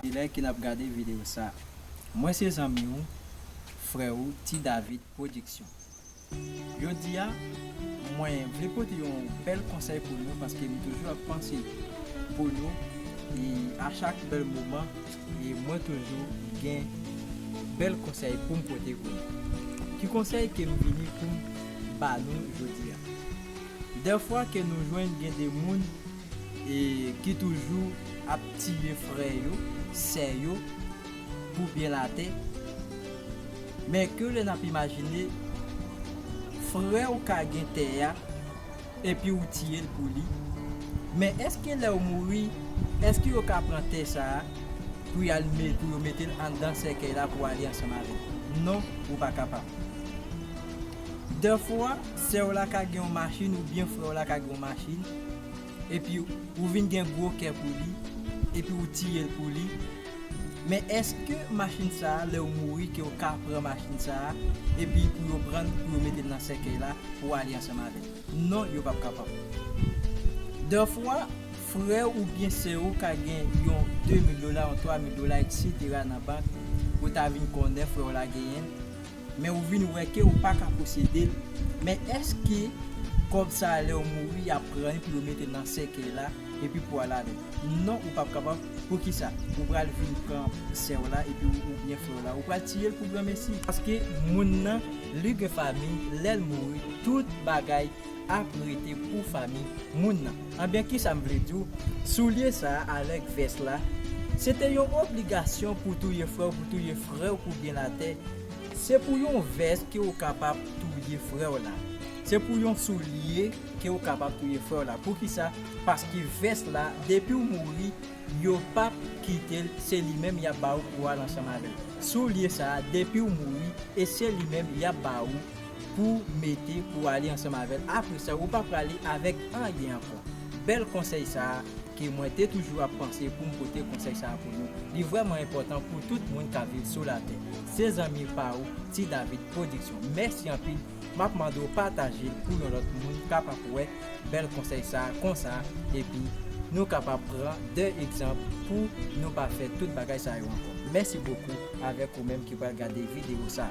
Kilè ke nap gade video sa. Mwen se zanmi ou frè ou ti David production jodi a mwen vle pote yon bèl konsèy pou nou paske m toujou ap panse pou nou e a chak bèl moman e mwen toujou gen bèl konsèy poum pote pou nou ki konsèy kem vini poum ba nou jodi a dèfwa ke nou jwenn gen de moun e ki toujou ap tiye frè yo, sè yo pou byen latè, men ke lè nap imajine frè w ka gen tè a epi ou tiye l pou li, men eske lè ou mouri eske yo ka pran tè sa a pou y al pou yo mete l anndan sèkèy la pou ale ansanm avè l? Non ou pa kapab. Dèfwa, sè w la ka gen yon machin oubyen frè w la ka gen yon machin, epi ou vin gen gwo kè pou li, epi ou tiye l pou li, men èske machin sa a, lè ou mouri, ke ou ka pran machin sa a, epi pou yo pran l, pou yo mete l nan sèkèy la, pou ale ansanm avè l? Non, yo p ap kapab. Dèfwa, frè w oubyen sè ou ka gen yon de mil dola, yon twa mil dola, eksetera nan bank, ou ta vin konnen frè w la genyen l, Men ou vin wè ke ou paka posede l. Men eske kòb sa a lèw mouri yap pran li pou yo metel nan sèkèy la epi pou al avèl? Non ou pap kapab, poukisa ou pral vin pran sèw la epi oubyen frèw la ou pral tiyel pou granmesi? Paske moun nan li gen famiy lèl mouri tout bagay ap rete pou fanmi moun nan. Anben kisa m vle di w, soulye sa a avèk vès la, se te yon obligasyon pou touye frè w, pou touye frè w pou byen latè, se pou yon vès ke w kapab touye frè w la, se pou yon soulye ke w kapab touye frè w la. Poukisa? Paske vès la, depi w mouri, yo p ap kite l, se li menm y ap ba ou pou w al ansanm avè l. Soulye sa a, depi w mouri, e se li menm y ap ba ou. Pou mete pou ale ansanm avèl apresa ou pa prale avèk anyen ankò bèl konsèy sa ke mwen te toujou ap panse poum pote konsèy sa pou nou li vrèman enpòtan pou tout moun kap viv sou latè se zanmi pa ou ti David production mèsi anpil map mande w patajel pou yon lòt moun kapap wè bèl konsèy sa konsa epi nou kapab pran de egzanp pou nou pa fè tout bagay sa yo ankò mèsi bokou avèk ou menm ki pral gade video sa.